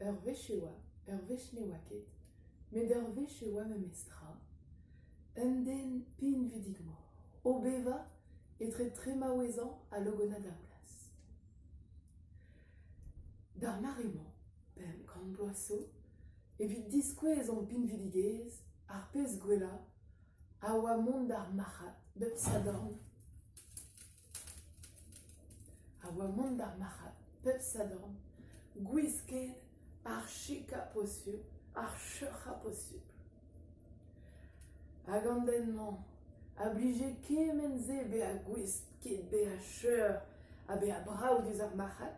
Ur wech e oa, ur wech ne oa ket, met ur wech e oa memestra, un den pinvidik-mor o bevañ etre tremaouezañ ha logonad ar plas. D'ar mare-mañ, pemp kant bloaz 'zo, evit diskouez hon pinvidigezh, ar pezh gwellañ, a oa mont d'ar marc'had bep sadorn. A oa mont d'ar marc'had bep sadorn, gwisket ar chikañ-posupl, ar cheuc'hañ-posupl. Hag an den-mañ a blije kement-se bezañ gouest ket bezañ cheur ha bezañ brav diouzh ar marc'had,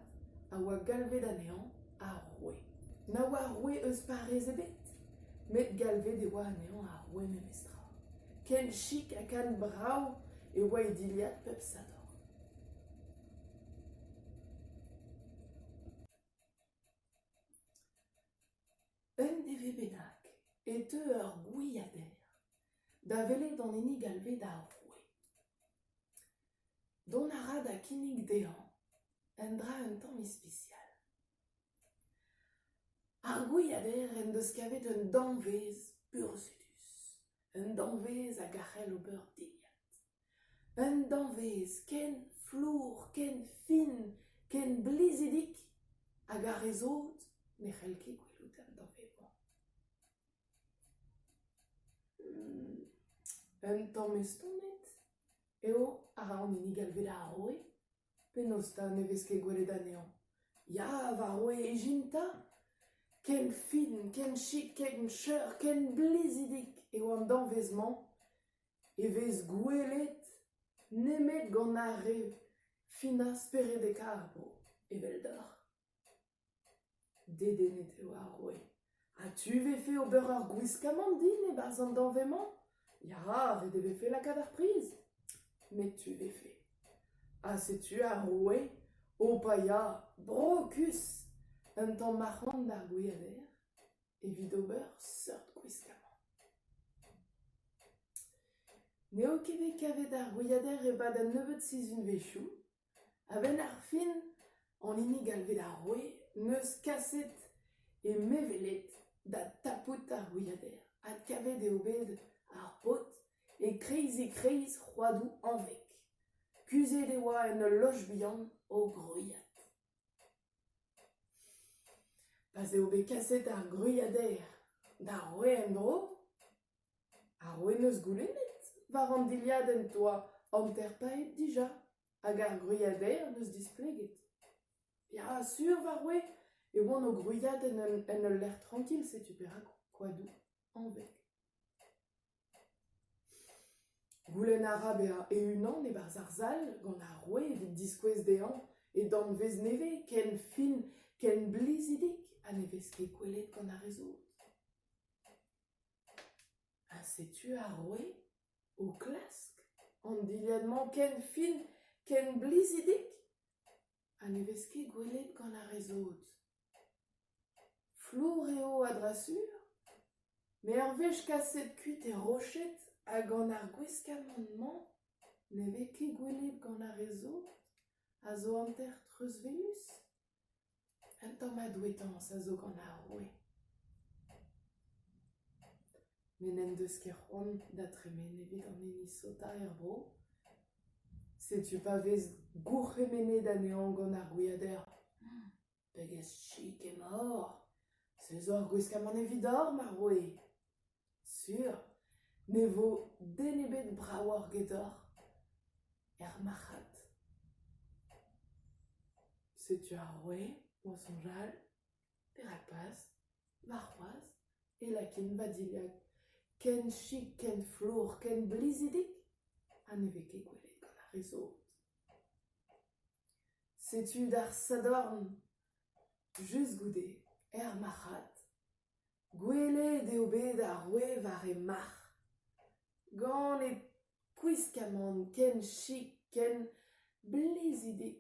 a oa galvet anezhañ ar roue. Na oa roue eus parrez ebet. met galvet e oa anezhañ ar ouenelezh tra. Ken chik ha ken brav e oa e dilhad pep sadorn. Un dere bennak e teu ur gwiader da welet an hini galvet ar roue. Dont a ra da kinnig dezhañ un dra un tamm ispisial. Ar gwiader en deus kavet un danvez burzhudus, un danvez hag a c'hell ober dilhad, un danvez ken flour, ken fin, ken blizidik hag ar re sot ne c'hell ket gwelout an danvez-mañ. Un tamm estonet eo a ra an hini galvet ar roue. Penaos 'ta ne vez ket gwelet anezhañ ? Ya, va roue, ijin 'ta ? Ken fin, ken chik, ken cheur, ken blizidik eo an danvez-mañ e vez gwelet nemet gant ar re finañ speredekaat 'vo, eveldoc'h. Dedennet eo ar roue. Ha tu 'vefe ober ur gwiskamant din e-barzh an dañv-mañ ? Ya, ret e vefe lakaat ar priz. Met tu 'vefe. Ha setu ar roue o paeañ brokus un tamm mac'hant d'ar gwiader evit ober seurt gwiskamant. N'eo ket bet kavet ar gwiader e-pad an nebeud sizhunvezhioù. A-benn ar fin, an hini galvet ar roue n'eus kaset he meveled da tapout ar gwiader. Adkavet eo bet ar paotr e-kreiz-e-kreiz c'hoadoù Anveg. Kuzhet e oa en ul loch bihan o gwriat. Pa 'z eo bet kaset ar gwiader d'ar roue en-dro Ar wenoz goulennet war an dilhadenn 'toa hanter-paeet dija hag ar gwriader 'neus displeget. Ya, sur war we e oan o gwriadenn en ul lec'h trankil setu perak koadoù anvet. Goulenn a ra bezañ e-unan e-barzh ar sal gant ar roue evit diskouez dezhañ e danvez nevez ken fin, ken blizidik ha ne vez ket gwelet gant ar re zot. Ha setu ar roue o klask an dilhad-mañ ken fin, ken blizidik ha ne vez ket gwelet gant ar re sot. Flour eo a-dra-sur, me ur wech kaset kuit er roched ha gant ar gwiskamant-mañ ne vez ket gwelet gant ar re sot a zo hanter treuzwelus. Un tammad douetañs a zo gant ar roue. Met n'en deus ket c'hoant da dremen evit an hini sotañ er vro. Setu pa vez gourc'hemennet anezhañ gant ar gwiader. Pegezh chik emaoc'h ? Se zo ar gwiskamant evidoc'h, ma roue ! Sur, ne vo den ebet bravoc'h gedoc'h er marc'had. Setu ar roue o soñjal perak pas, warc'hoazh, e lakin va dilhad ken chik, ken flour, ken blizidik ha ne vez ket gwelet gant ar re zot. Setu d'ar sadorn, just goude, er marc'had. Gwelet eo bet ar roue war he marc'h, gant he kwiskamant ken chik, ken blizidik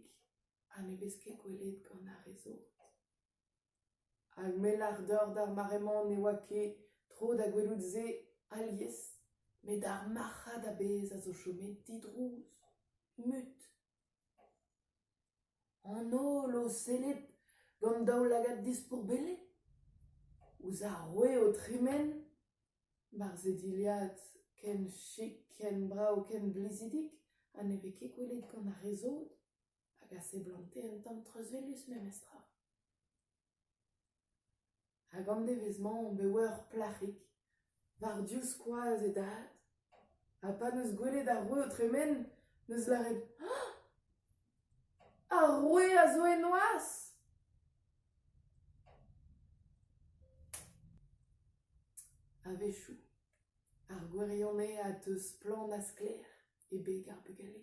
ha ne vez ket gwelet gant ar re zot. Hag m'hellac'h dor d'ar mare-mañ ne oa ket tro da gwelout se alies, met ar marc'had a-bezh a zo chomet didrouz, mut. An holl o sellet gant daoulagad dispourbellet ouzh ar roue o tremen barzh e dilhad ken chik, ken brav, ken blizidik ha ne vez ket gwelet gant ar re sot hag a seblante un tamm treuzwelus memestra. Hag an devezh-mañ on bet war ur plac'hig, war div skoaz e dad, ha pa 'neus gwelet ar roue o tremen, 'neus lâret "Ah! Ar roue a zo e noazh!" A-wechoù, ar gwirionez a deu splann ha sklaer e beg ar bugale.